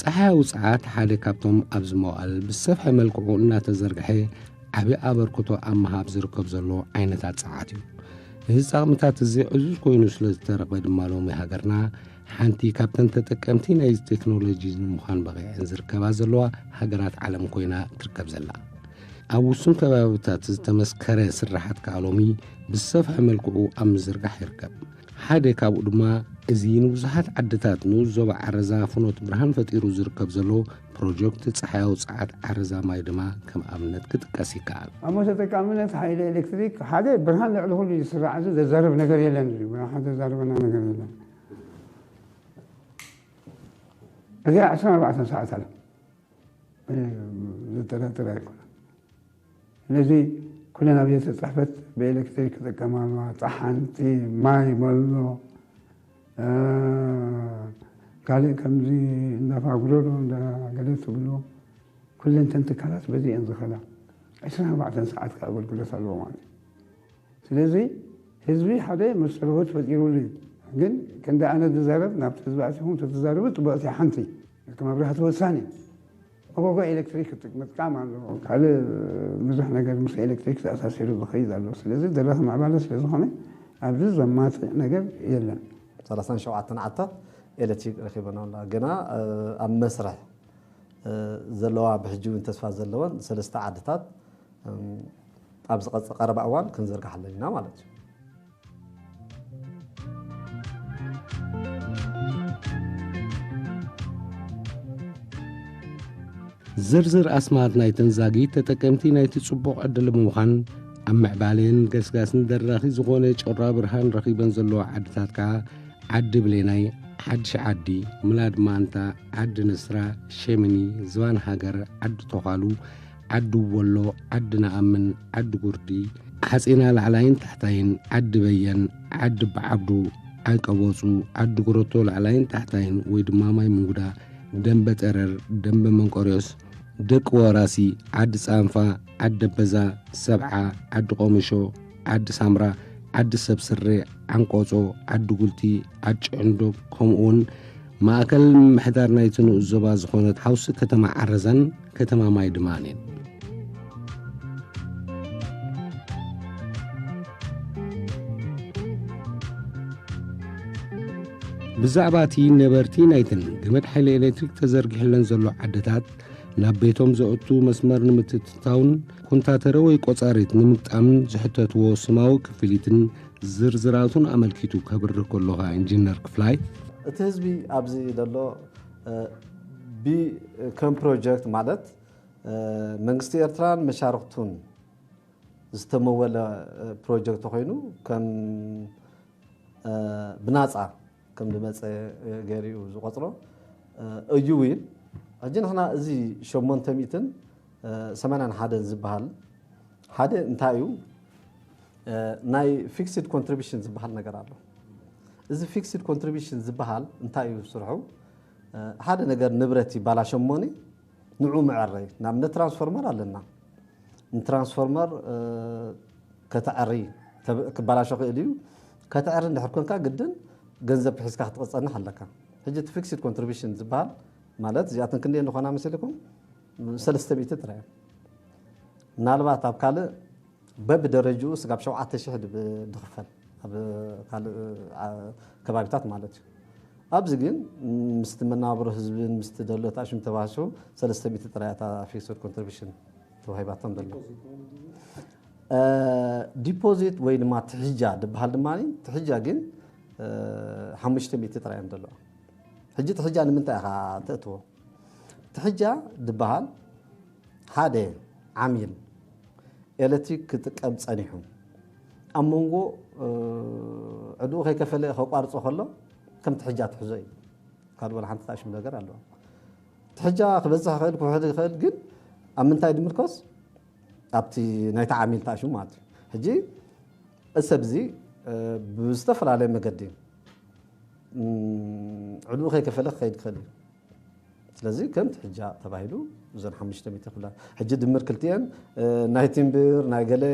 ፀሓይ ውፅዓት ሓደ ካብቶም ኣብዚ መዋእል ብሰፍሐ መልክዑ እናተዘርግሐ ዓብዪ ኣበርክቶ ኣብ ምሃብ ዝርከብ ዘሎ ዓይነታት ፀዓት እዩ እዚ ፃቕምታት እዚ ዕዙዝ ኮይኑ ስለ ዝተረኽበ ድማ ሎሚ ሃገርና ሓንቲ ካብተን ተጠቀምቲ ናይ ቴክኖሎጂ ንምዃን በቒዐን ዝርከባ ዘለዋ ሃገራት ዓለም ኮይና ትርከብ ዘላ ኣብ ውሱን ከባቢታት ዝተመስከረ ስራሓት ከዓ ሎሚ ብሰፍሐ መልክዑ ኣብ ምዝርጋሕ ይርከብ ሓደ ካብኡ ድማ እዚ ንብዙሓት ዓድታት ንኡስ ዞባ ዓረዛ ፍኖት ብርሃን ፈጢሩ ዝርከብ ዘሎ ፕሮጀክት ጸሓያዊ ጸዓት ዓረዛ ማይ ድማ ከም ኣብነት ክጥቀስ ይከኣል። ኣሞ ተጠቃምነት ሓይሊ ኤሌክትሪክ ሓደ ብርሃን ልዕሊ ኩሉ እዩ ዝስራዕ እዚ ዘዛርብ ነገር የለን እዚ ብርሃን ዘዛርበና ነገር የለን እዚኣ ዕስራን ኣርባዕተን ሰዓት ኣለ ዘጠራጥር ኣይኮነ ስለዚ ኩለን ኣብ ቤተ ፅሕፈት ብኤሌክትሪክ ክጥቀማ ኣለዋ። ፀሓንቲ፣ ማይ መሎ፣ ካልእ ከምዚ እንዳ ፋጉሮሮ እንዳ ገለ ትብሉ ኩለን እተን ትካላት በዚ እየን ዝኸዳ። ዕስራን ኣርባዕተን ሰዓት ከዓ ኣገልግሎት ኣለዎ ማለት እዩ። ስለዚ ህዝቢ ሓደ መሰረቦት ፈጢሩሉ እዩ። ግን ክንዲ ኣነ ዝዛረብ ናብቲ ህዝቢ ኣቲኹም ተትዛረቡ ፅቡቕ እያ ሓንቲ እቲ መብራህቲ ወሳኒ እዩ። መጎጎ ኤለክትሪክ ምጥቃም ኣለዎ። ካልእ ብዙሕ ነገር ምስ ኤለክትሪክ ተኣሳሲሩ ዝኸይድ ኣሎ። ስለዚ ደረኽ ምዕባለ ስለ ዝኾነ ኣብዚ ዘማትእ ነገር የለን። ሰላሳን ሸውዓተን ዓድታት ኤለትሪክ ረኺበን ኣለዋ። ገና ኣብ መስርሕ ዘለዋ ብሕጂ እውን ተስፋ ዘለወን ሰለስተ ዓድታት ኣብ ዝቐጽ ቀረባ እዋን ክንዝርግሓለን ኢና ማለት እዩ። ዝርዝር ኣስማት ናይተን ዛጊት ተጠቀምቲ ናይቲ ጽቡቕ ዕድል ምዃን ኣብ ምዕባሌን ገስጋስን ደራኺ ዝኾነ ጮራ ብርሃን ረኺበን ዘለዎ ዓድታት ከዓ ዓዲ ብሌናይ፣ ሓድሽ ዓዲ፣ ምላድ ማንታ፣ ዓዲ ንስራ፣ ሸሚኒ፣ ዝባን ሃገር፣ ዓዲ ቶኻሉ፣ ዓዲ ወሎ፣ ዓዲ ነኣምን፣ ዓዲ ጉርዲ፣ ሓጺና ላዕላይን ታሕታይን፣ ዓዲ በየን፣ ዓዲ በዓብዱ፣ ዓይቀቦጹ፣ ዓዲ ጉረቶ ላዕላይን ታሕታይን ወይ ድማ ማይ ምንጉዳ፣ ደንበ ጠረር፣ ደንበ መንቆርዮስ፣ ደቂ ወራሲ፣ ዓዲ ጻንፋ፣ ዓዲ ደበዛ፣ ሰብዓ፣ ዓዲ ቆሚሾ፣ ዓዲ ሳምራ፣ ዓዲ ሰብ ስሬ፣ ዓንቆጾ፣ ዓዲ ጉልቲ፣ ዓዲ ጭዕንዶግ ከምኡውን ማእከል ምምሕዳር ናይቲ ንኡስ ዞባ ዝኾነት ሓውሲ ከተማ ዓረዛን ከተማ ማይድማን እየን። ብዛዕባ እቲ ነበርቲ ናይተን ገመድ ሓይሊ ኤሌክትሪክ ተዘርጊሕለን ዘሎ ዓድታት ናብ ቤቶም ዘእቱ መስመር ንምትትታውን ኮንታተረ ወይ ቆጻሪት ንምግጣምን ዝሕተትዎ ስማዊ ክፍሊትን ዝርዝራቱን ኣመልኪቱ ከብርህ ከሎ ከኣ ኢንጂነር ክፍላይ፣ እቲ ህዝቢ ኣብዚ ዘሎ ብ ከም ፕሮጀክት ማለት መንግስቲ ኤርትራን መሻርኽቱን ዝተመወለ ፕሮጀክት ኮይኑ ከም ብናጻ ከም ዝመጸ ገይሩ እዩ ዝቆጽሮ እዩ ውን ሕጂ ንሕና እዚ ሸሞንተ ሚእትን ሰማንያን ሓደን ዝበሃል ሓደ እንታይ እዩ ናይ ፊክስድ ኮንትሪቢሽን ዝበሃል ነገር ኣሎ። እዚ ፊክስድ ኮንትሪቢሽን ዝበሃል እንታይ እዩ ስርሑ? ሓደ ነገር ንብረት ይባላሽ እሞኒ ንዑ መዐረይ ንኣብነት ትራንስፎርመር ኣለና ንትራንስፎርመር ከተዐሪ ክባላሾ ክእል እዩ ከተዐሪ እንድሕር ኮንካ ግድን ገንዘብ ክሒዝካ ክትቐፀንሕ ኣለካ ሕጂ እቲ ፊክስድ ኮንትሪቢሽን ዝበሃል ማለት እዚኣተን ክንደየ ንኾና መሰልኩም ሰለስተ ሚእቲ ጥራይ ምናልባት ኣብ ካልእ በብደረጅኡ ስጋብ ሸውዓተ ሽሕ ድኽፈል ኣብ ካልእ ከባቢታት ማለት እዩ ኣብዚ ግን ምስቲ መነባብሮ ህዝብን ምስቲ ደሎት ኣእሽም ተባህሱ ሰለስተ ሚእቲ ጥራይ እያ እታ ፊክስድ ኮንትሪቢሽን ተዋሂባቶም ደላ ዲፖዚት ወይ ድማ ትሕጃ ድበሃል ድማ ትሕጃ ግን ሓሙሽተ ሚእቲ ጥራይ እዮም ደለዋ ሕጂ ትሕጃ ንምንታይ ኢኻ ተእትዎ ትሕጃ ድበሃል ሓደ ዓሚል ኤለትሪክ ክጥቀም ጸኒሑ ኣብ መንጎ ዕድኡ ከይከፈለ ከቋርጾ ከሎ ከም ትሕጃ ትሕዞ እዩ ካብ ወላ ሓንቲ ታሽም ነገር ኣለዋ ትሕጃ ክበዝሕ ይኽእል ክውሕድ ይኽእል ግን ኣብ ምንታይ ድምርኮስ ኣብቲ ናይቲ ዓሚል ታሽሙ ማለት እዩ ሕጂ እሰብ እዚ ብዝተፈላለየ መገዲ ዕድኡ ከይከፈለ ክኸይድ ክኽእል እዩ ስለዚ ከም ትሕጃ ተባሂሉ እዘን ሓሙሽተ ሚእቲ ክፍላ ሕጂ ድምር ክልቲኤን ናይ ቲምብር ናይ ገለ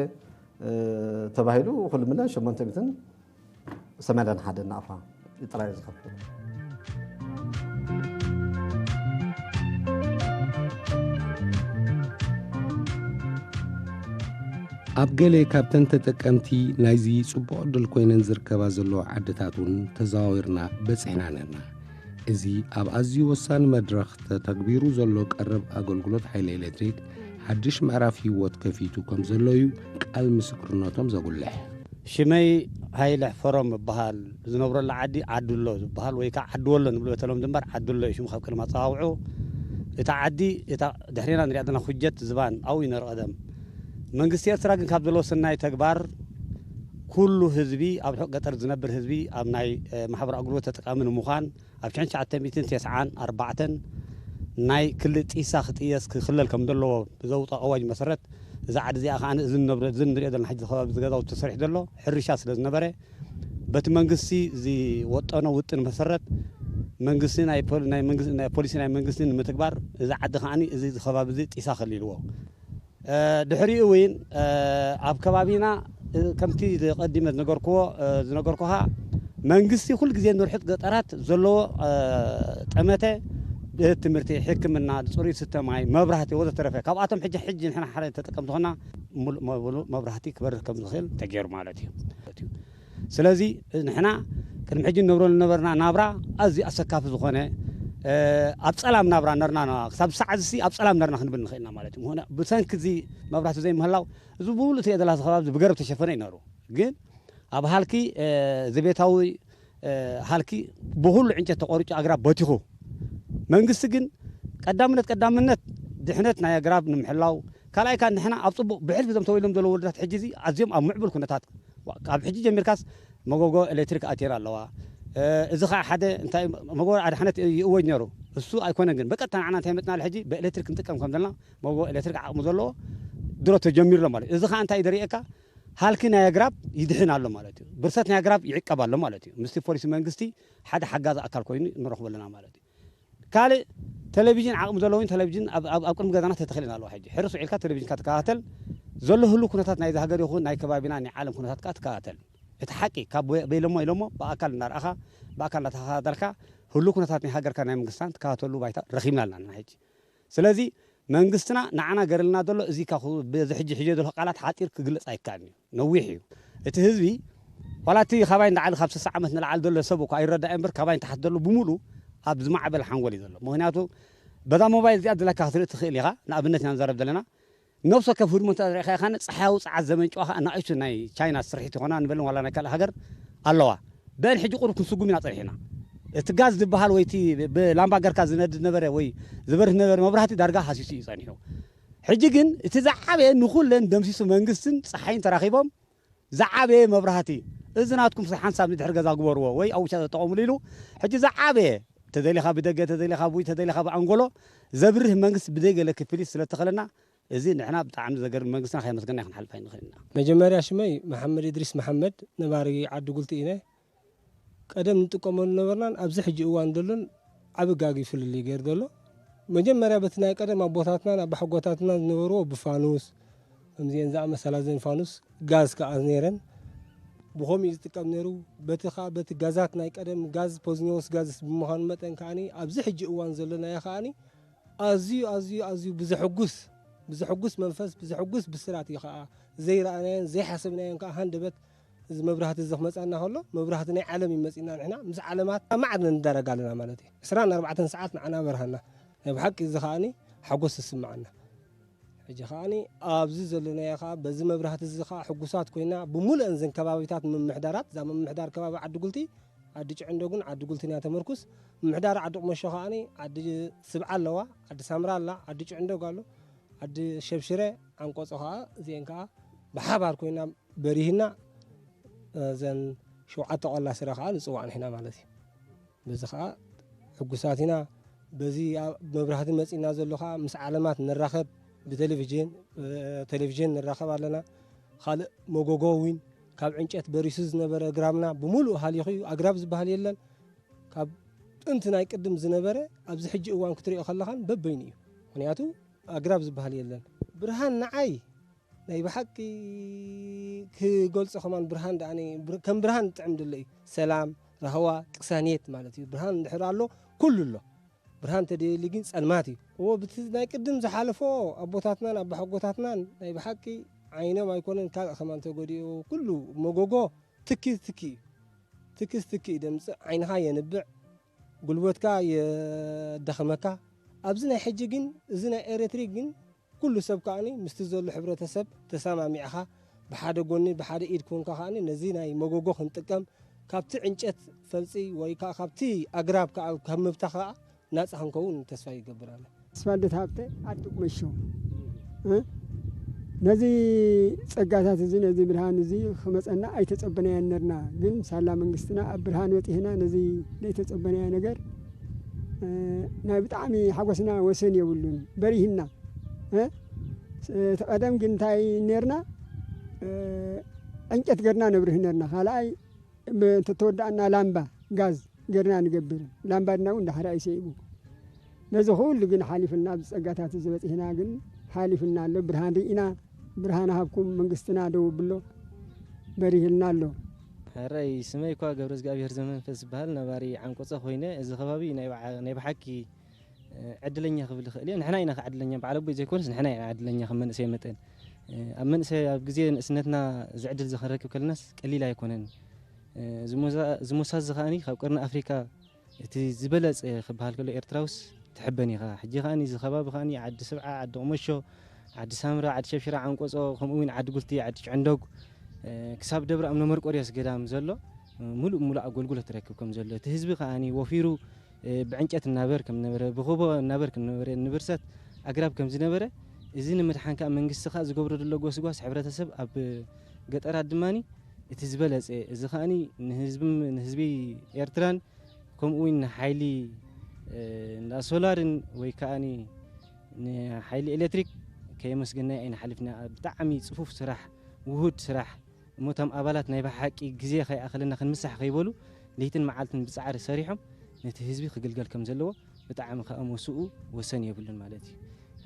ተባሂሉ ኩሉ ምለ ሸሞንተ ሚእትን ሰማንያን ሓደ ናቕፋ ጥራይ ዝኸፍል ኣብ ገለ ካብተን ተጠቀምቲ ናይዚ ጽቡቕ ዕድል ኮይነን ዝርከባ ዘለዎ ዓድታት እውን ተዘዋዊርና በጺሕና ነርና እዚ ኣብ ኣዝዩ ወሳኒ መድረኽ ተተግቢሩ ዘሎ ቀረብ ኣገልግሎት ሓይሊ ኤሌክትሪክ ሓድሽ ምዕራፍ ህይወት ከፊቱ ከም ዘሎ እዩ ቃል ምስክርነቶም ዘጉልሕ። ሽመይ ሃይለ ሕፈሮም እበሃል። ዝነብረሉ ዓዲ ዓድሎ ዝበሃል ወይ ከኣ ዓድወሎ ንብል በተለምዶ እምበር ዓድሎ እዩ ሽሙ ካብ ቀደም ኣጸዋውዕኡ። እታ ዓዲ እታ ድሕሬና ንርእያ ዘለና ኩጀት ዝባን ኣብኡ እዩ ነይሩ ቀደም። መንግስቲ ኤርትራ ግን ካብ ዘለዎ ሰናይ ተግባር ኩሉ ህዝቢ ኣብ ርሑቕ ገጠር ዝነብር ህዝቢ ኣብ ናይ ማሕበራዊ ኣገልግሎት ተጠቃሚ ንምዃን ኣብ ሽሕን ትሽዓተ ሚእትን ቴስዓን ኣርባዕተን ናይ ክሊ ጢሳ ክጥየስ ክክለል ከም ዘለዎ ብዘውጸኦ ኣዋጅ መሰረት እዛ ዓዲ እዚኣ ከኣ እዚ ንነብሮ እዚ ንሪኦ ዘለና ሕጂ ከባቢ እዚ ገዛውቲ ተሰሪሑ ዘሎ ሕርሻ ስለ ዝነበረ በቲ መንግስቲ ዝወጠኖ ውጥን መሰረት መንግስቲ ናይ ፖሊ ናይ መንግስቲ ናይ ፖሊሲ ናይ መንግስቲ ንምትግባር እዚ ዓዲ ከኣ እዚ ከባቢ እዚ ጢሳ ከሊልዎ ድሕሪኡ ውን ኣብ ከባቢና ከምቲ ቀዲመ ዝነገርክዎ ዝነገርኩኻ መንግስቲ ኩሉ ግዜ ንርሑቕ ገጠራት ዘለዎ ጠመተ ቤት ትምህርቲ፣ ሕክምና፣ ፅሩይ ዝስተ ማይ፣ መብራህቲ ወዘተረፈ ካብኣቶም ሕጂ ሕጂ ንሕና ሓደ ተጠቀምቲ ኮይና ሙሉእ መብራህቲ ክበርህ ከምዝኽእል ተገይሩ ማለት እዩ። ስለዚ ንሕና ቅድሚ ሕጂ ንነብረሉ ዝነበርና ናብራ ኣዝዩ ኣሰካፊ ዝኾነ ኣብ ጸላም ናብራ ነርና ና ክሳብ ሳዕዝሲ ኣብ ጸላም ነርና ክንብል ንኽእል ኢና ማለት እዩ። ምክንያ ብሰንኪ እዚ መብራህቲ ዘይምህላው እዚ ብምሉእ እቲ ኤደላስ ከባቢ ብገረብ ዝተሸፈነ እዩ ነሩ። ግን ኣብ ሃልኪ ዘቤታዊ ሃልኪ ብኹሉ ዕንጨት ተቆሪጩ ኣግራብ በቲኹ። መንግስቲ ግን ቀዳምነት ቀዳምነት ድሕነት ናይ ኣግራብ ንምሕላው ካልኣይ ከኣ ንሕና ኣብ ጽቡቕ ብሕልፊ እዞም ተወሊዶም ዘለዉ ወለዶታት ሕጂ እዚ ኣዝዮም ኣብ ምዕቡል ኩነታት ካብ ሕጂ ጀሚርካስ መጎጎ ኤሌክትሪክ ኣትየን ኣለዋ እዚ ከኣ ሓደ እንታይ መጎጎ ኣድሓነት ይእወጅ ነይሩ እሱ ኣይኮነን ግን በቀጥታ ንዓና እንታይ መጽናል ሕጂ ብኤሌክትሪክ ክንጥቀም ከም ዘለና መጎጎ ኤሌክትሪክ ዓቕሚ ዘለዎ ድሮ ተጀሚሩ ኣሎ ማለት እዚ ከኣ እንታይ እዩ ዘርእየካ ሃልኪ ናይ ኣግራብ ይድሕን ኣሎ ማለት እዩ ብርሰት ናይ ኣግራብ ይዕቀብ ኣሎ ማለት እዩ ምስቲ ፖሊሲ መንግስቲ ሓደ ሓጋዚ ኣካል ኮይኑ ንረኽቦ ኣለና ማለት እዩ ካልእ ተለቪዥን ዓቕሚ ዘለዎን ተለቪዥን ኣብ ኣብ ቅድሚ ገዛና ተተኺለን ኣለዋ ሕጂ ሕርስ ውዒልካ ተለቪዥንካ ትከታተል ዘሎ ህሉው ኩነታት ናይዛ ሃገር ይኹን ናይ ከባቢና ናይ ዓለም ኩነታት ከኣ ትከታተል እቲ ሓቂ ካብ በይሎሞ ኢሎሞ ብኣካል እናርኣኻ ብኣካል እናተኸታተልካ ህሉው ኩነታት ናይ ሃገርካ ናይ መንግስትናን ትከታተለሉ ባይታ ረኺብና ኣለና ንሕጂ ስለዚ መንግስትና ንዓና ገርልና ዘሎ እዚ ካብ በዚ ሕጂ ሒጀዮ ዘለኩ ቃላት ሓጺር ክግለጽ ኣይካኣልን እዩ ነዊሕ እዩ እቲ ህዝቢ ዋላ እቲ ካባይ ንላዕሊ ካብ ስሳ ዓመት ንላዕሊ ዘሎ ሰብ እኳ ይረዳኣዮ እምበር ካባይ ንታሕቲ ዘሎ ብሙሉ ኣብ ዝማዕበለ ሓንጎል እዩ ዘሎ ምክንያቱ በዛ ሞባይል እዚኣ ድላካ ክትርኢ ትክእል ኢካ ንኣብነት ኢና ንዛረብ ዘለና ነብሲ ወከፍ ህድሞ እንተ ርኢኻ ከኣ ጸሓያዊ ጸዓት ዘመንጭዋ ከኣ ንኣሽቱ ናይ ቻይና ስርሒት ይኾና ንበልን ዋላ ናይ ካልእ ሃገር ኣለዋ። በል ሕጂ ቁሩብ ክንስጉም ኢና ጸኒሕና። እቲ ጋዝ ዝበሃል ወይ እቲ ብላምባ ገርካ ዝነድድ ዝነበረ ወይ ዝበርህ ዝነበረ መብራህቲ ዳርጋ ሃሲሱ እዩ ጸኒሑ። ሕጂ ግን እቲ ዝዓበየ ንኹለን ደምሲሱ መንግስትን ጸሓይን ተራኺቦም ዝዓበየ መብራህቲ እዚ ናትኩም እስከ ሓንሳብ ንድሕሪ ገዛ ግበርዎ ወይ ኣብ ውሽጢ ተጠቐምሉ ኢሉ ሕጂ ዝዓበየ ተደሊኻ ብደገ ተደሊኻ ብውሽጢ ተደሊኻ ብኣንጎሎ ዘብርህ መንግስቲ ብዘይ ገለ ክፍሊት ስለ እተኸለና እዚ ንሕና ብጣዕሚ ዘገርም መንግስትና ከየመስገንና ክንሓልፍ ኣይንኽእልን ኢና። መጀመርያ ሽመይ መሓመድ እድሪስ መሓመድ ነባሪ ዓዲ ጉልቲ ኢነ ቀደም ንጥቀመሉ ዝነበርናን ኣብዚ ሕጂ እዋን ዘሎን ዓቢ ጋግ ፍልልይ ገይሩ ዘሎ መጀመርያ በቲ ናይ ቀደም ኣቦታትናን ኣባሓጎታትናን ዝነበርዎ ብፋኑስ ከምዚኤን ዝኣመሰላ ዘን ፋኑስ ጋዝ ከኣ ነይረን ብኸምኡ እዩ ዝጥቀም ነይሩ በቲ ከኣ በቲ ጋዛት ናይ ቀደም ጋዝ ፖዝኒዎስ ጋዝስ ብምዃኑ መጠን ከኣ ኣብዚ ሕጂ እዋን ዘሎናዮ ከኣ ኣዝዩ ኣዝዩ ኣዝዩ ብዘሕጉስ ብዘሕጉስ መንፈስ ብዘሕጉስ ብስራት እዩ ከኣ ዘይረኣናዮን ዘይሓሰብናዮን ከኣ ሃንደበት እዚ መብራህቲ እዚ ክመጽኣና ከሎ መብራህቲ ናይ ዓለም እዩ መጺእና ንሕና ምስ ዓለማት ኣብ ማዕድ ንዳረግ ኣለና ማለት እዩ ዕስራን ኣርባዕተን ሰዓት ንዓና በርሃና ናይ ብሓቂ እዚ ከኣኒ ሓጎስ ዝስምዓና ሕጂ ከኣኒ ኣብዚ ዘለናዮ ከኣ በዚ መብራህቲ እዚ ከኣ ሕጉሳት ኮይና ብምሉአን ዘን ከባቢታት ምምሕዳራት እዛ ምምሕዳር ከባቢ ዓዲ ጉልቲ ዓዲ ጭዕንዶግን ዓዲ ጉልትን እያ ተመርኩስ ምምሕዳር ዓዲ ቁመሾ ከኣኒ ዓዲ ስብዓ ኣለዋ ዓዲ ሳምራ ኣላ ዓዲ ጭዕንዶግ ኣሎ ዓዲ ሸብሽረ ዓንቆጾ ከኣ እዚአን ከኣ ብሓባር ኮይና በሪህና እዘን ሸውዓተ ቆላ ስረ ከዓ ንፅዋዕ ንሕና ማለት እዩ በዚ ከዓ ሕጉሳት ኢና በዚ መብራህቲ መፂና ዘሎ ከዓ ምስ ዓለማት ንራኸብ ብቴሌቭዥን ቴሌቭዥን ንራኸብ ኣለና ካልእ መጎጎ እውን ካብ ዕንጨት በሪሱ ዝነበረ ግራምና ብምሉእ ሃሊኹ እዩ ኣግራብ ዝበሃል የለን ካብ ጥንቲ ናይ ቅድም ዝነበረ ኣብዚ ሕጂ እዋን ክትሪኦ ከለኻን በበይኑ እዩ ምክንያቱ ኣግራብ ዝበሃል የለን ብርሃን ንዓይ ናይ ብሓቂ ክገልጾ ከማን ብርሃን ደኣኒ ከም ብርሃን ዝጥዕም ድሎ እዩ ሰላም ራህዋ ቅሳኔት ማለት እዩ ብርሃን እንድሕር ኣሎ ኩሉ ኣሎ ብርሃን ተደልዩ ግን ጸልማት እዩ እዎ ብቲ ናይ ቅድም ዝሓለፎ ኣቦታትናን ኣባሓጎታትናን ናይ ብሓቂ ዓይኖም ኣይኮነን ካልእ ከማን ተጎዲኡ ኩሉ መጎጎ ትኪ ትኪ እዩ ትኪስ ትኪ እዩ ደምጽእ ዓይንኻ የንብዕ ጉልበትካ የዳኽመካ ኣብዚ ናይ ሕጂ ግን እዚ ናይ ኤሌክትሪክ ግን ኩሉ ሰብ ከኣ ምስቲ ዘሎ ሕብረተሰብ ተሰማሚዕኻ ብሓደ ጎኒ ብሓደ ኢድ ኮንካ ከኣ ነዚ ናይ መጎጎ ክንጥቀም ካብቲ ዕንጨት ፈልጺ ወይ ከኣ ካብቲ ኣግራብ ከኣ ካብ ምብታኽ ከኣ ናጻ ክንከውን ተስፋ ይገብር ኣነ። ተስፋልደት ሃብተ፣ ኣቶ ቁመሾ፣ እ ነዚ ጸጋታት እዚ ነዚ ብርሃን እዚ ክመጸና ኣይተጸበናዮን ነርና ግን ሳላ መንግስትና ኣብ ብርሃን በጺሕና ነዚ ደይተጸበናዮ ነገር ናይ ብጣዕሚ ሓጎስና ወሰን የብሉን በሪህና እ እቲ ቀደም ግን እንታይ ኔርና እ ዕንጨት ገርና ነብርህ ኔርና ካልኣይ ብ እንተተወዳእና ላምባ ጋዝ ገርና ንገብር ላምባ ድና እውን ዳሕራ እዩ ሰኢቡ ነዚ ኩሉ ግን ሓሊፍና ኣብዚ ጸጋታት እዚ በጺሕና ግን ሓሊፍና ኣሎ ብርሃን ርኢና ብርሃን ሃብኩም መንግስትና ደው ኣብሎ በሪህልና ኣሎ። ሕራይ ስመይኳ ገብረዝግኣብሄር ዘመንፈስ ዝበሃል ነባሪ ዓንቆጸ ኮይነ እዚ ከባቢ ናይ ብሓቂ ዕድለኛ ክብል ይኽእል እየ ንሕና ኢና ዕድለኛ በዓል ኣቦይ ዘይኮነስ ንሕና ኢና ዕድለኛ ከም መንእሰይ መጠን ኣብ መንእሰይ ኣብ ግዜ ንእስነትና እዚ ዕድል እዚ ክንረክብ ከለናስ ቀሊል ኣይኮነን ዝሞሳ እዚ ከኣ ካብ ቀርኒ ኣፍሪካ እቲ ዝበለጸ ክበሃል ከሎ ኤርትራውስ ትሕበን ኢኻ። ሕጂ ከኣ እዚ ከባቢ ከኣ ዓዲ ስብዓ፣ ዓዲ ቁመሾ፣ ዓዲ ሳምረ፣ ዓዲ ሸብሽራ፣ ዓንቆጾ፣ ከምኡ ውን ዓዲ ጉልቲ፣ ዓዲ ጭዕንዶግ ክሳብ ደብረ እምነ መርቆርዮስ ገዳም ዘሎ ምሉእ ብምሉእ ኣጎልጉሎት ይረክብ ከም ዘሎ እቲ ህዝቢ ከኣ ወፊሩ ብዕንጨት እናበር ከም ዝነበረ ብኹቦ እናበር ከም ዝነበረ ንብርሰት ኣግራብ ከም ዝነበረ እዚ ንምድሓን ከኣ መንግስቲ ከኣ ዝገብሮ ዘሎ ጎስጓስ ሕብረተሰብ ኣብ ገጠራት ድማ እቲ ዝበለጸ እዚ ከኣ ንህዝቢ ኤርትራን ከምኡ ውን ንሓይሊ እንዳ ሶላርን ወይ ከኣ ንሓይሊ ኤሌክትሪክ ከየመስገናዮ ኣይንሓልፍና ብጣዕሚ ጽፉፍ ስራሕ ውሁድ ስራሕ እሞ እቶም ኣባላት ናይ ብሓቂ ግዜ ከይኣኸለና ክንምሳሕ ከይበሉ ለይትን መዓልትን ብጻዕሪ ሰሪሖም ነቲ ህዝቢ ክግልገል ከም ዘለዎ ብጣዕሚ ከኣ ሞስኡ ወሰን የብሉን ማለት እዩ።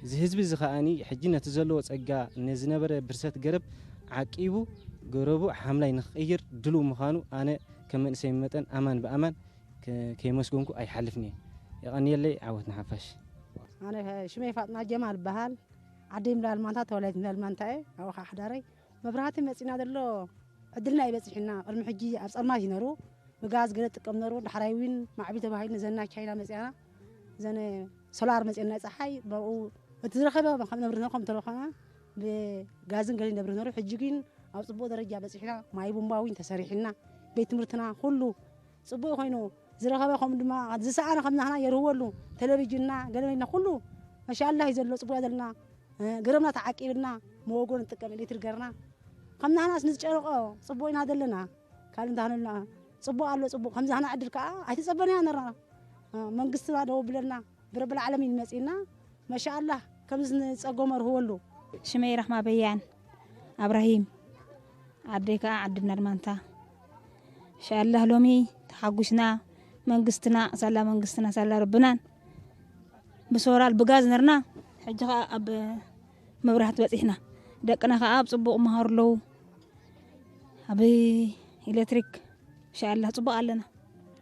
እዚ ህዝቢ እዚ ከኣ ሕጂ ነቲ ዘለዎ ጸጋ ንዝነበረ ብርሰት ገረብ ዓቂቡ ገረቡ ሓምላይ ንክቕይር ድሉው ምዃኑ ኣነ ከም መንእሰይ መጠን ኣማን ብኣማን ከየመስገንኩ ኣይሓልፍን እየ። የቐንየለይ ዓወት ንሓፋሽ። ኣነ ሽመይ ፋጥማ ጀማል እበሃል ዓደይ ምላል ማንታ ተወላዲት ምላል ማንታ እየ ኣብኡ ከዓ ሓዳረይ መብራህቲ መጺና ዘሎ ዕድልና እዩ በጺሑና ቅድሚ ሕጂ ኣብ ጸልማት እዩ ነሩ ብጋዝ ገለ ጥቀም ነሩ ዳሕራይ ዊን ማዕቢል ተባሂሉ ዘና ቻይና መጺኣና ዘነ ሶላር መጺኤን ናይ ጸሓይ ብኡ እቲ ዝረኸበ ከም ነብሪ ነሩ ከም ተለኾና ብጋዝን ገለ ነብሪ ነሩ ሕጂ ግን ኣብ ጽቡቕ ደረጃ በጺሕና ማይ ቡምባ ዊን ተሰሪሕና ቤት ትምህርትና ኩሉ ጽቡቅ ኮይኑ ዝረኸበ ከምኡ ድማ ዝሰኣነ ከም ናህና የርህወሉ ተለቪጅንና ገለመጅና ኩሉ መሻላህ እዩ ዘሎ ጽቡቅ ዘለና ገረብና ተዓቂብና መወጎ ንጥቀም ኤሌክትሪክ ገርና ከም ናህናስ ንዝጨነቆ ጽቡቅ ኢና ዘለና ካልእ እንተሃነልና ጽቡቅ ኣሎ ጽቡቅ ከምዚ ሃና ዕድል ከዓ ኣይተጸበናያ ነርና መንግስትና ደው ብለና ብረብል ዓለሚን እዩ መጺኡና መሻኣላህ ከምዚ ንጸጎ መርህወሉ። ሽመይ ራህማ በያን ኣብራሂም ዓደይ ከኣ ዓዲ ብነርማንታ እንሻኣላህ ሎሚ ተሓጒስና መንግስትና ሳላ መንግስትና ሳላ ረብናን ብሶራል ብጋዝ ነርና ሕጂ ከኣ ኣብ መብራህቲ በጺሕና ደቅና ከኣ ኣብ ጽቡቕ መሃሩ ኣለዉ ኣብ ኤሌክትሪክ እንሻኣላህ ጽቡቕ ኣለና።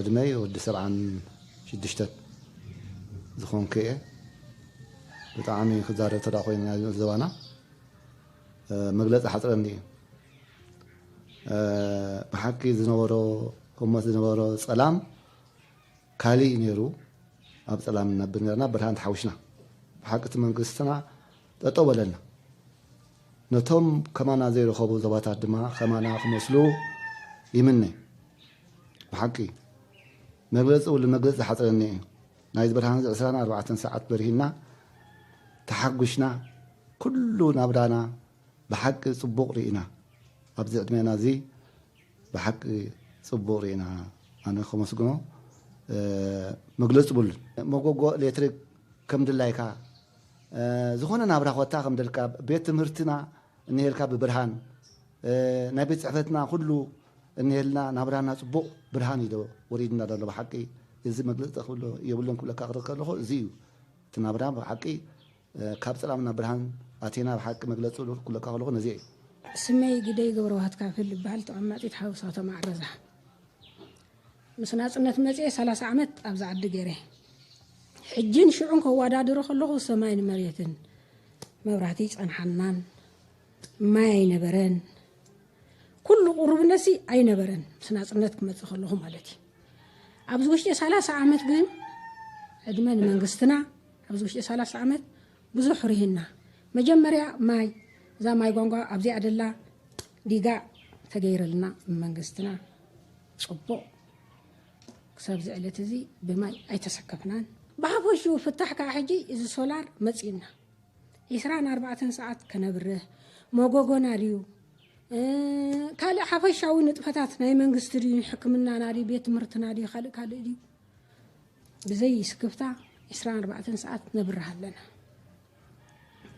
ዕድመይ ወዲ ሰብዓን ሽዱሽተን ዝኾንኩ እየ። ብጣዕሚ ክዛረብ ተዳ ኮይኑ ናይ ዘባና መግለፂ ሓፅረኒ እዩ። ብሓቂ ዝነበሮ ህሞት ዝነበሮ ፀላም ካሊእ ነይሩ። ኣብ ፀላም ነብር ነርና ብርሃን ተሓዊስና ብሓቂ እቲ መንግስትና ጠጠው በለልና ነቶም ከማና ዘይረኸቡ ዞባታት ድማ ከማና ክመስሉ ይምነ ብሓቂ መግለፂ ውሉ መግለፂ ዝሓፅረኒ እዩ ናይዚ ብርሃን እዚ ዕስራን ኣርባዕተን ሰዓት በሪሂና ተሓጒሽና ኩሉ ናብራና ብሓቂ ፅቡቕ ርኢና ኣብዚ ዕድሜና እዚ ብሓቂ ፅቡቕ ርኢና ኣነ ከመስግኖ መግለፂ ብሉን መጎጎ ኤሌክትሪክ ከም ድላይካ ዝኾነ ናብራ ኮታ ከም ደልካ ቤት ትምህርትና እንሄልካ ብብርሃን ናይ ቤት ጽሕፈትና ኩሉ እንሄልና ናብራና ጽቡቕ ብርሃን እዩ ወሪድና ዘሎ ብሓቂ እዚ መግለጽ ክብሎ የብሉን ክብለካ ክርክ ከለኹ እዚ እዩ እቲ ናብራ ብሓቂ ካብ ጽላም ናብ ብርሃን ኣቴና ብሓቂ መግለጽ ክብለካ ከለኹ ነዚ እዩ ስመይ ግደይ ገብረዋህት ካብ ህል እበሃል ተቐማጢት ሓውስ ከተማ ዓረዛ። ምስ ናጽነት መጽየ ሰላሳ ዓመት ኣብዛ ዓዲ ገይረ ሕጂን ሽዑን ከዋዳድሮ ከለኹ ሰማይን መሬትን መብራህቲ ኣይጸንሓናን ማይ ኣይነበረን ኩሉ ቁሩብነትሲ ኣይነበረን ምስ ናጽነት ክመጽእ ከለኹ ማለት እዩ ኣብዚ ውሽጢ ሰላሳ ዓመት ግን ዕድመ ንመንግስትና ኣብዚ ውሽጢ ሰላሳ ዓመት ብዙሕ ርሂና መጀመርያ ማይ እዛ ማይ ጓንጓ ኣብዚኣ ደላ ዲጋ ተገይረልና መንግስትና ጽቡቕ ክሳብዚ ዕለት እዚ ብማይ ኣይተሰከፍናን። ብሓፈሽኡ ፍታሕ ከኣ ሕጂ እዚ ሶላር መጺኡና ዒስራን ኣርባዕተን ሰዓት ከነብርህ መጎጎና ድዩ ካልእ ሓፈሻዊ ንጥፈታት ናይ መንግስቲ ድዩ ሕክምናና ድዩ ቤት ትምህርትና ድዩ ካልእ ካልእ ድዩ ብዘይ ስክፍታ ዒስራን ኣርባዕተን ሰዓት ነብርህ ኣለና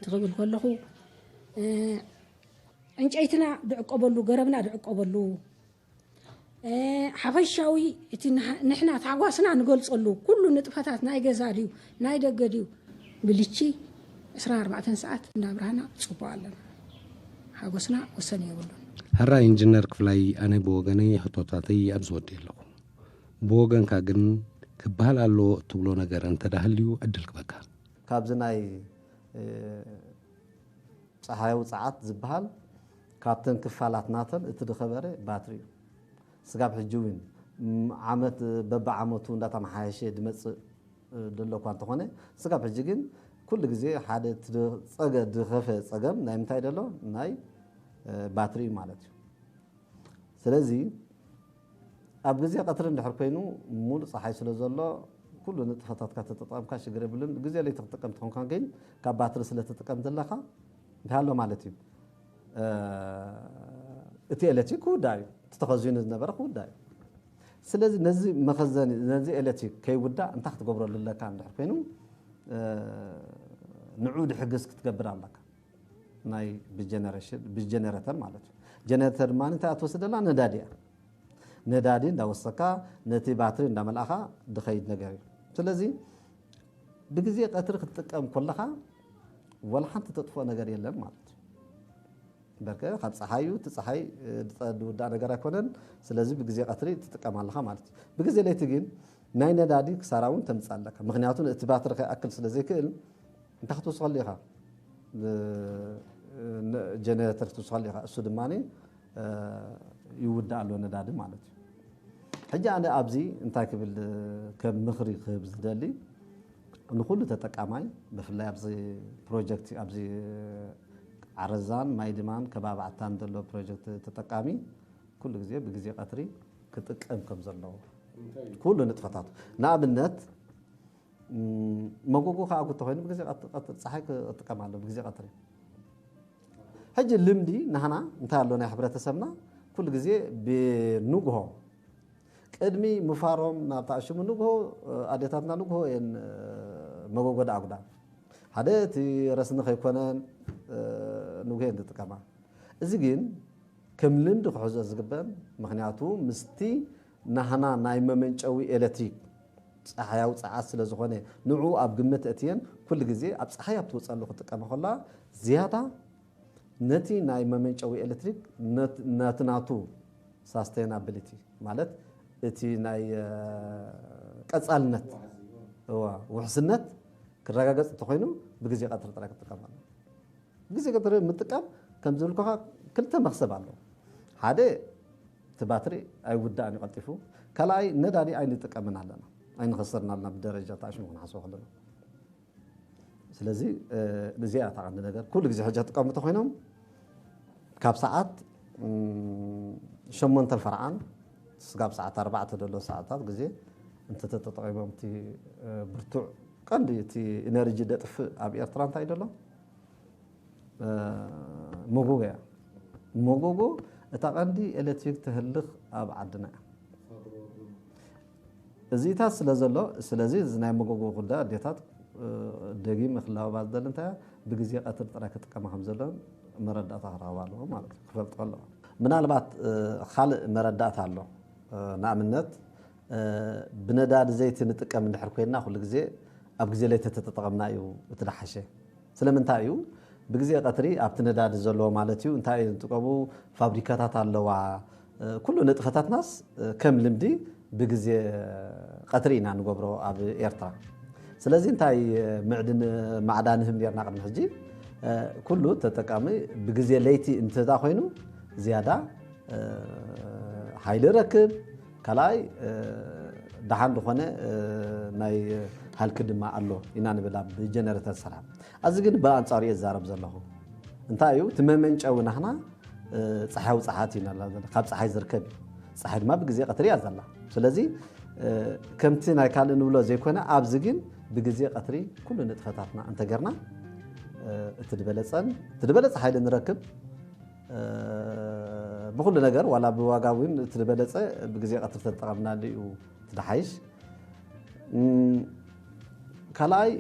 ትኽብል ከለኹ ዕንጨይትና ድዕቀበሉ ገረብና ድዕቀበሉ ሓፈሻዊ እቲ ንሕና ታሕጓስና ንገልጸሉ ኩሉ ንጥፈታት ናይ ገዛ ድዩ ናይ ደገ ድዩ ብልቺ ዕስራን ኣርባዕተን ሰዓት እንዳብራህና ጽቡቅ ኣለና ሓጎስና ወሰን የብሉን። ሐራይ ኢንጅነር ክፍላይ ኣነ ብወገነይ ሕቶታተይ ኣብዚ ወዲኤ ኣለኹ ብወገንካ ግን ክብሃል ኣለዎ እትብሎ ነገር እንተ ሃልዩ ዕድል ክበካ። ካብዚ ናይ ጸሃያዊ ጸዓት ዝበሃል ካብተን ክፋላት ናተን እቲ ድኸበረ ባትሪ እዩ። ስጋብ ሕጂ እውን ዓመት በብዓመቱ እንዳተመሓየሸ ድመጽእ ደሎ እኳ እንተኾነ ስጋብ ሕጂ ግን ኩሉ ግዜ ሓደ እቲ ድጸገ ድኸፈ ጸገም ናይ ምንታይ ደሎ ናይ ባትሪ እዩ ማለት እዩ። ስለዚ ኣብ ግዜ ቀትሪ እንድሕር ኮይኑ ሙሉእ ጸሓይ ስለ ዘሎ ኩሉ ንጥፈታትካ ተተጠቐምካ ሽግር የብሉን። ግዜ ለይቲ ክትጥቀም ተኾንካ ግን ካብ ባትሪ ስለ ትጥቀም ዘለኻ እንታይ ኣሎ ማለት እዩ እቲ ኤሌክትሪክ ክውዳእ እዩ። እቲ ተኸዚኑ ዝነበረ ክውዳእ እዩ። ስለዚ ነዚ መኸዘኒ ነዚ ኤሌክትሪክ ከይውዳእ እንታይ ክትገብረሉ ኣለካ እንድሕር ኮይኑ ንዑ ድሕግዝ ክትገብር ኣለካ። ናይ ብጀነሬሽን ብጀነረተር ማለት እዩ ጀነረተር ድማ እንታይ እያ ትወስድ ዘላ ነዳዲ እያ ነዳዲ እንዳወሰካ ነቲ ባትሪ እንዳመልኣኻ ድኸይድ ነገር እዩ ስለዚ ብግዜ ቀትሪ ክትጥቀም ኮለኻ ወላ ሓንቲ ተጥፍኦ ነገር የለን ማለት እዩ በርከ ካብ ፀሓዩ እቲ ፀሓይ ዝውዳእ ነገር ኣይኮነን ስለዚ ብግዜ ቀትሪ ትጥቀም ኣለኻ ማለት እዩ ብግዜ ለይቲ ግን ናይ ነዳዲ ክሳራ እውን ተምፅእ ኣለካ ምክንያቱ እቲ ባትሪ ከይኣክል ስለ ዘይክእል እንታይ ክትውስኸሉ ኢኻ? ጀነረተር ክትውስኸሉ ኢኻ። እሱ ድማ ይውዳእ ኣሎ ነዳዲ ማለት እዩ። ሕጂ ኣነ ኣብዚ እንታይ ክብል ከም ምኽሪ ክህብ ዝደሊ ንኩሉ ተጠቃማይ ብፍላይ ኣብዚ ፕሮጀክት ኣብዚ ዓረዛን ማይ ድማን ከባቢ ዓታን ዘሎ ፕሮጀክት ተጠቃሚ ኩሉ ግዜ ብግዜ ቀትሪ ክጥቀም ከም ዘለዎ ኩሉ ንጥፈታቱ ንኣብነት መጎጎ ከኣ ጉቶ ኮይኑ ብግዜ ቀትሪ ጸሓይ ክጥቀም ኣሎ ብግዜ ቀትሪ ሕጂ ልምዲ ናህና እንታይ ኣሎ ናይ ሕብረተሰብና ኩሉ ግዜ ብንግሆ ቅድሚ ምፋሮም ናብ ተኣሽሙ ንግሆ ኣዴታትና ንግሆ እየን መጎጎ ደኣጉዳ ሓደ እቲ ረስኒ ከይኮነን ንግሆ እየን ዝጥቀማ እዚ ግን ከም ልምዲ ክሕዞ ዝግበን ምክንያቱ ምስቲ ናህና ናይ መመንጨዊ ኤለትሪክ ጸሓያዊ ጸዓት ስለ ዝኾነ ንዕኡ ኣብ ግምት እእትየን ኩሉ ግዜ ኣብ ጸሓይ ኣብ ትወጸሉ ክጥቀማ ከለዋ ዝያዳ ነቲ ናይ መመንጨዊ ኤለትሪክ ነቲ ናቱ ሳስተይናብሊቲ ማለት እቲ ናይ ቀጻልነት ውሕስነት ክረጋገጽ እንተኾይኑ ብግዜ ቀትሪ ጥራይ ክጥቀም ኣለዎ። ብግዜ ቀትሪ ምጥቃም ከም ዝብልኩኻ ክልተ መኽሰብ ኣለዎ ሓደ እቲ ባትሪ ኣይውዳእን እዩ ቀልጢፉ። ካልኣይ ነዳዲ ኣይንጥቀምን ኣለና። ኣይንኸስርን ኣለና ብደረጃ እቲ ኣሽሙ ክንሓስቦ ከለና። ስለዚ እዚኣ እያ እታ ቀንዲ ነገር። ኩሉ ግዜ ሕጂ ክጥቀሙ እንተኾይኖም ካብ ሰዓት ሸሞንተን ፈርዓን ስጋብ ሰዓት ኣርባዕተ ዘሎ ሰዓታት ግዜ እንተተጠቂሞም እቲ ብርቱዕ ቀንዲ እቲ ኢነርጂ ደጥፍእ ኣብ ኤርትራ እንታይ እዩ ዘሎ ሞጎጎ እያ ሞጎጎ እታ ቀንዲ ኤሌክትሪክ ተህልኽ ኣብ ዓድና እያ እዚታት ስለ ዘሎ ስለዚ እዚ ናይ ሞጎጎ ጉዳ ኣዴታት ደጊም ክላበባ ዝደሊ እንታይ ብግዜ ቀትሪ ጥራይ ክጥቀማ ከም ዘለዎን መረዳእታ ክረኸባ ኣለዎ ማለት እዩ ክፈልጦ ኣለዎ ምናልባት ካልእ መረዳእታ ኣሎ ንኣብነት ብነዳዲ ዘይቲ ንጥቀም እንድሕር ኮይንና ኩሉ ግዜ ኣብ ግዜ ለይቲ ተተጠቐምና እዩ እቲ ደሓሸ ስለምንታይ እዩ ብግዜ ቀትሪ ኣብቲ ነዳዲ ዘለዎ ማለት እዩ እንታይ ዝጥቀሙ ፋብሪካታት ኣለዋ ኩሉ ንጥፈታትናስ ከም ልምዲ ብግዜ ቀትሪ ኢና ንገብሮ ኣብ ኤርትራ ስለዚ እንታይ ምዕድን ማዕዳ ንህብ ኔርና ቅድሚ ሕጂ ኩሉ ተጠቃሚ ብግዜ ለይቲ እንተ ኮይኑ ዝያዳ ሓይሊ ረክብ ካልኣይ ደሓን ዝኾነ ናይ ሃልኪ ድማ ኣሎ ኢና ንብል ኣብ ጀነረተር ሰላም ኣዚ ግን ብኣንፃሩ እየ ዝዛረብ ዘለኹ እንታይ እዩ እቲ መመንጨዊ ናህና ፀሓያዊ ፀሓት እዩ ናላ ዘለ ካብ ፀሓይ ዝርከብ እዩ ፀሓይ ድማ ብግዜ ቀትሪ እያ ዘላ ስለዚ ከምቲ ናይ ካልእ ንብሎ ዘይኮነ ኣብዚ ግን ብግዜ ቀትሪ ኩሉ ንጥፈታትና እንተገርና እቲ ድበለፀን እቲ ድበለፀ ሓይሊ ንረክብ ብኹሉ ነገር ዋላ ብዋጋ እውን እቲ ዝበለፀ ብግዜ ቀትሪ ተጠቐምናሉ እዩ እቲ ድሓይሽ። ካልኣይ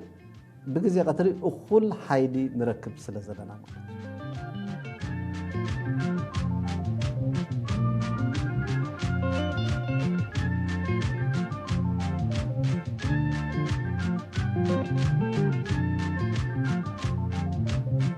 ብግዜ ቀትሪ እኹል ሓይሊ ንረክብ ስለ ዘለና ማለት እዩ።